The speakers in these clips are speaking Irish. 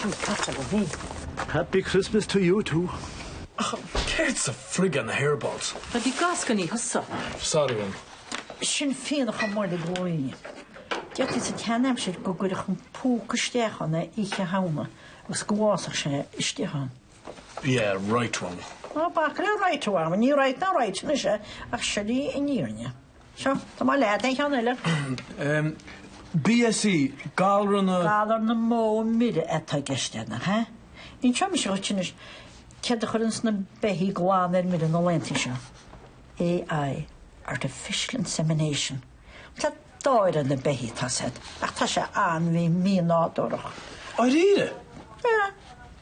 Sin casadh a bhí. Happy Christmas to you too. Ach céard sa frig ar na hairballs? Tá de gascony thusa. Sorry man. Sin fionnach i mbolg gamhna. Deirtí sa tseanaimsir go gcuirfeadh an púca isteach ann é oíche Shamhna agus go bhfásfadh sé istigh ann. Yeah, right on. Ná bac le right on, ní right ná right anois é ach sin í an fhírinne. Seo, tá mo leaid é, ceann eile. BSE, Galar na. Galar na mbó mire atá i gceist ann, an ea? Inseoidh mise dhuit anois céard a chuireann sna beithígh glan ar mire na laethanta seo. AI, Artificial Insemination. Tá dáir ar na beithígh, tá siad, ach tá sé an-mhí-mhínádúrach. Dáiríre? Sea.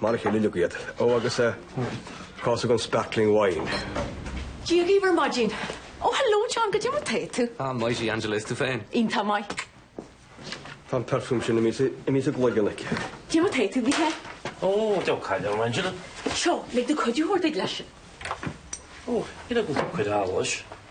Mar a chéile uilig iad. Ó agus eh cás den sparkling wine. Dia dhaoibh ar maidin. Ó hello John, goidé mar atá tú? Ah mighty Angela, is tú féin? Iontach maith. Tá an perfume sin imithe sa gcloigeann aici. Goidé mar atá tú a Mhichíl? Ó diabhal caill orm Angela. Seo, lig dom cuidiú a thabhairt duit leis. Ó, ní raibh ag an gcuid eolais.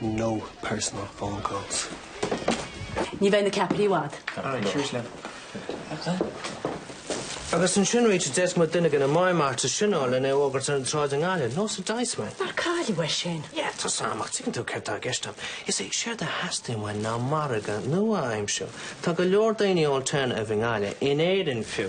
No personal phone calls. Ní bheidh na ceapairi i bhfad. Alright, cheers leo. Agus ansin right d'fhéadfadh muid duine de na mime artists sin a fháil lena fhógairt ar an tsráid i nGaillimh, nós an Diceman. Nár cailleadh é sin? Yeah, tá a fhios agam, ach tuigeann tú céard tá i gceist agam. You see, séard a theastaíonn uainn ná margadh nua a aimsiú. Tá go leor daoine alternative i nGaillimh, in Éirinn fiú.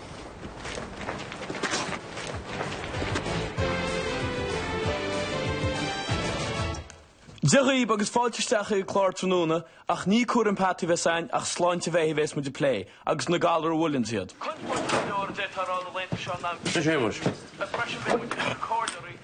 Dia dhaoibh agus fáilte isteach chuig an clár tráthnóna ach ní cúram peataí a bheas againn ach sláinte bheithígh a bheas muid ag plé agus na galair a bhuaileann iad. Cuid mhór den leabhar a deirtear ann na laethanta seo ná Seo Séamus. Freisin beidh muid ag cur comhairle oraibh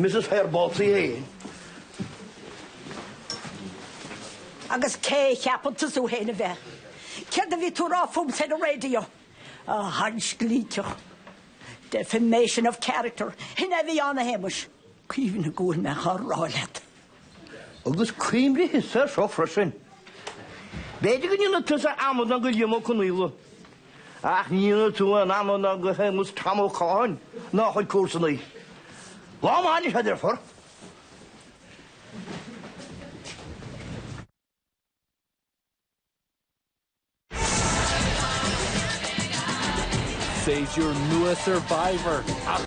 Mrs Hairballs í féin. Agus cé a cheapann tusa thú féin a bheith? Céard a bhí tú a rá fúmsa ar an raidió? A sheansclíteach! Defamation of character. Shin é a bhí ann, a Shéamais. Cuimhnigh go bhfuil mé á rá leat. Agus cuimhnigh thusa ar seo freisin. B'fhéidir go ndéanfaidh tusa amadán de Liam Ó Conaola, ach ní dhéanfaidh tú aon amadán de Shéamus Tom Ó Catháin ná a chuid comharsanaí. Lá maith anois, a dheirfiúr. Seisear nua Survivor.